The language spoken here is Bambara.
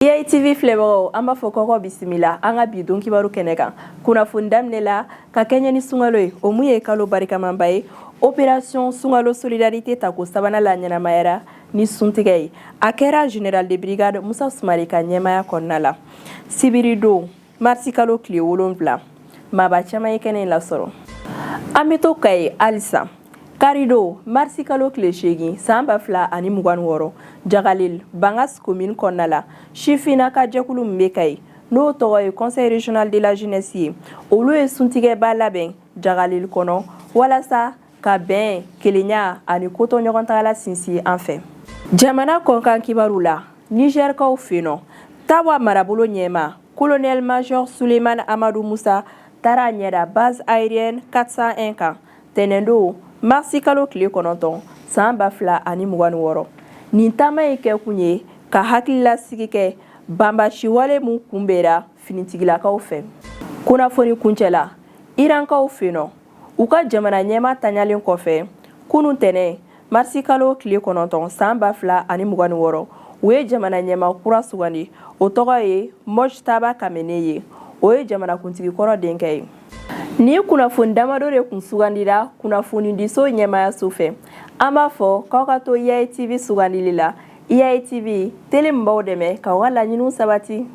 IATV filɛbagaw an b'a fɔ kɔkɔ bisimila an ka bi don kibaru kɛnɛ kan kunnafoni daminɛ la ka kɛɲɛ ni sunkalo ye o mun ye kalo barikamanba ye opération sunkalo solidarité tako sabanan laɲɛnamayara ni suntigɛ ye a kɛra général de brigade Musa Sumare ka ɲɛmaya kɔnɔna la sibiridon Marisi kalo tile wolonwula maaba caman ye kɛnɛ in lasɔrɔ an bɛ to Kayi halisa karidon marisi kalo tile seegin san ba fila ani mugan ni wɔɔrɔ Jagalel Bangasi komini kɔnɔna la sifinna ka jɛkulu min bɛ Kayi n'o tɔgɔ ye conseil régional de la jeunesse ye olu ye suntigɛba labɛn Jagalel kɔnɔ walasa ka bɛn kelenya ani koto ɲɔgɔn tagala sinsin an fɛ jamana kɔnkan kibaru la nizɛrikaw fenɔ tawa marabolo ɲɛma kolonɛl major suleman amadu musa taara a ɲɛda base aérienne 401 kan tɛnɛndon marisi kalo tile kɔnɔntɔn san ba fila ani mugan ni wɔɔrɔ nin taama ye kɛkun ye ka hakililasigi kɛ banbasiwale min kunbɛra finitigilakaw fɛ kunnafoni kuncɛ la irankaw fenɔ u ka jamana ɲɛma ntanyalen kɔfɛ kunun tɛnɛ marisi kalo tile kɔnɔntɔn san ba fila ani mugan ni wɔɔrɔ u ye jamana ɲɛma kura sugandi o tɔgɔ ye mojtaba kamene ye o ye jamanakuntigi kɔrɔ denkɛ ye nin kunnafoni damadɔ de kun sugandira kunnafonidiso ɲɛmayaso fɛ an b'a fɔ k'aw ka to IATV sugandili la IATV tele min b'aw dɛmɛ k'aw ka laɲiniw sabati